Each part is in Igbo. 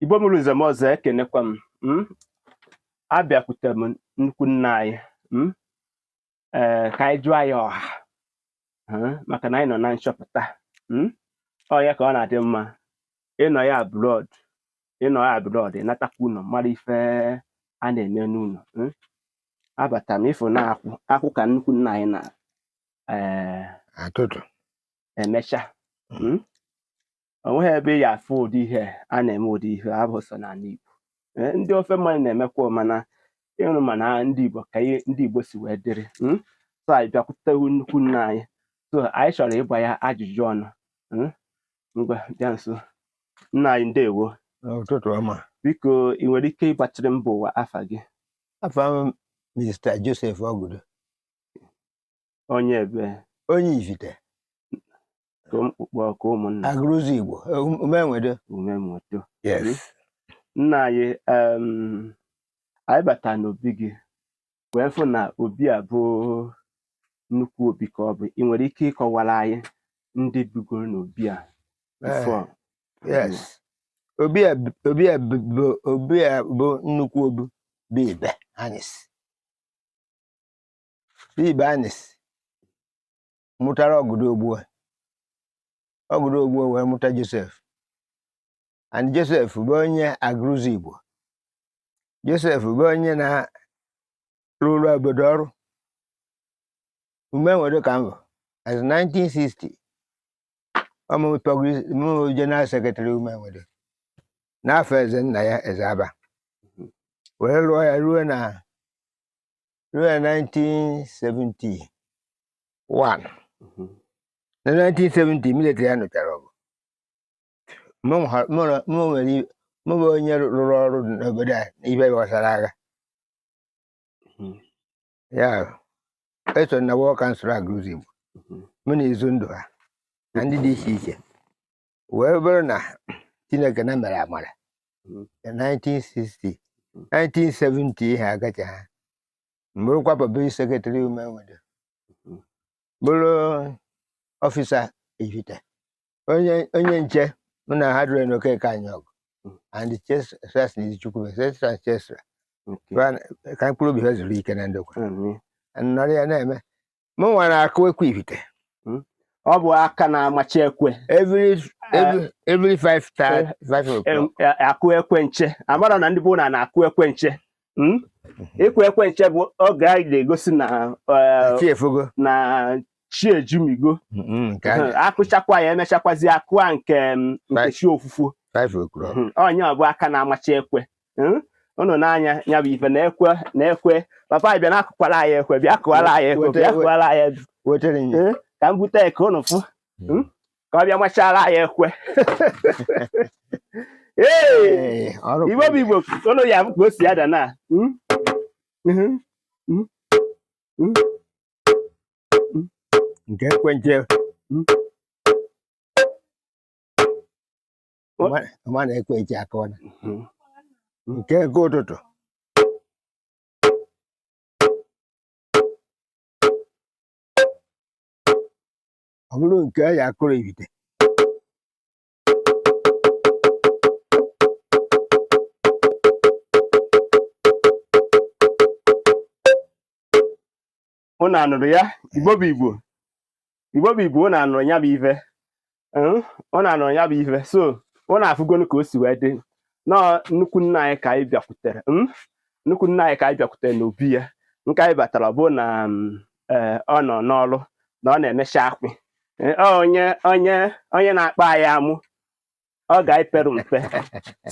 igbo mụrụ nze mụọ ọzọ ekenekwa m mm? abịakwute m nnukwu nna anyị mm? ee ka anyị jụọ ya ọha mm? maka na anyị nọ na nchọpụta mm? ọ ya ka ọ na-adị mma ịnọ ya abroad ịnọ ya abroad ịnatakwa ụnọ mara ife a na-eme n'ụnọ mm? abata m ịfụ na-akwụ akwụ ka nnukwu nna anyị na ee atụtụ emecha mm? o nweghị ebe ị ya-afụ ụdị ihe a na-eme ụdị ihe abụ sọ n'ala Igbo Ee, ndị ofe mmanụ na-emekwa mana ịrụ mana ndị Igbo ka ihe ndị Igbo si wee dịrị mm? so anyị bịakwutewu nnukwu nna anyị so anyị chọrọ ịgba ya ajụjụ ọnụ mm? ngwa bịa nso nna anyị ndewo ụtụtụ ọma biko ị nwere ike ịgbachiri mba ụwa afa gị afa m Mr. Joseph Ogudo onye ebe onye Ivite ka mkpụkpọ ka ụmụnna Aguluzigbo Umenwedo umemoto yes nna anyị em, anyị bata n'obi gị wee fụ na obi a bụ nnukwu obi ka ọ bụ ị nwere ike ịkọwara anyị ndị bigoro n'obi a before yes obi a b- obi a b- bụ obi a bụ nnukwu obi bụ Ibeanus Ibeanusi mụtara Ogudo Ogbua Ogudo Ogbua wee mụta Joseph and Joseph bụ onye Aguluzigbo Joseph bụ onye na-arụrụ obodo ọrụ Umenwedo ka mbụ as 1960 ọ mụ bụ general secretary Umenwedo n'afọ eze nna ya eze aba wee lụọ ya ruo na ruo na 1971 na 1970 immediately a nụchara ọgụ mụ ha- mụ na- mụ nwere i- mụ bụ onye rụrụ ọrụ n'obodo a n'ihe gbasara agha Mhm. ya eso na war council Aguluzigbo mụ na Izundu ha na ndị dị iche iche wee bụrụ na Chineke nna mere amara Mm. 1960 Mm. 1970 ihe agacha ha m bụrụkwa public secretary Umenwedo Mm. bụrụ officer Ivite onye onye nche mụ na ha dụrụ na Okeke Anyaogu Mm. and chesas na izichukwu etcetera etcetera Okay. ka mkpụrụ obi ha zuru ike na ndokwa Amen. nọrọ ya na-eme mụ nwa na-akụ ekwe ibite hmm? ọ bụ aka na-amachi ekwe every eh. every five eh. five o'clock eh, akụ ekwe nche amara na ndị bụ na na-akụ ekwe nche hmm? mhm. ịkụ ekwe nche bụ oge anyị na-egosi na na chi ejumigo mhm, akụchakwa ya emechakwazi akụa nke mm, nke chi ofufo onye ọ bụ aka na-amachi ekwe hmm? unu na-anụ ya bụ ife na-ekwe na-ekwe papa bịa na-akụkwara anyị ekwe bịa kụwara anyị ekwe bịa kụwara anyị ekwe hmm? ka m bute ya ka unu fụ hmm? ka ọ bịa machara anyị ekwe ee igbo bụ igbo unu ya bụ ka o si ada na nke ekwe nche ọ ma na ekwe nche akụọna mhm. nke nke ụtụtụ ọ bụrụ nke a ya akụrụ ibite ụnụ anụrụ ya igbo bụ igbo igbo bụ igbo ụnụ anụrụ ya bụ ife ụnụ anụrụ ya bụ ife so ụnụ afụgonu ka o si wee dị nọọ nnukwu nna anyị ka anyị bịakwutere hmm? nnukwu nna anyị ka anyị bịakwutere n'obi ya nke anyị batara bụ na hmm, eh, ọ nọ n'ọrụ na ọ na-emecha akwụ eh, onye onye onye na-akpa anyị amụ oge anyị pere mpe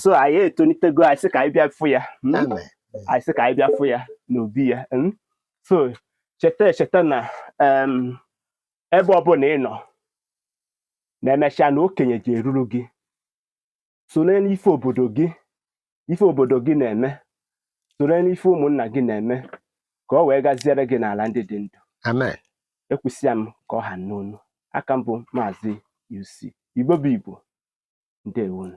so anyị etonitego anyị sị ka anyị bịa fụ ya mm? Amen. anyị sị ka anyị bịa fụ ya n'obi ya mm? so cheta echeta na em, ebe ọbụla ị nọ na emechaa na okenye je-eruru gị sonyelu n'ife obodo gị ife obodo gị na-eme soro n'ife ụmụnna gị na-eme ka ọ wee gaziere gị n'ala ndị dị ndụ amen ekwusịa m ka ọ ha n'onu aka m bụ maazị UC Igbo bụ Igbo ndewonu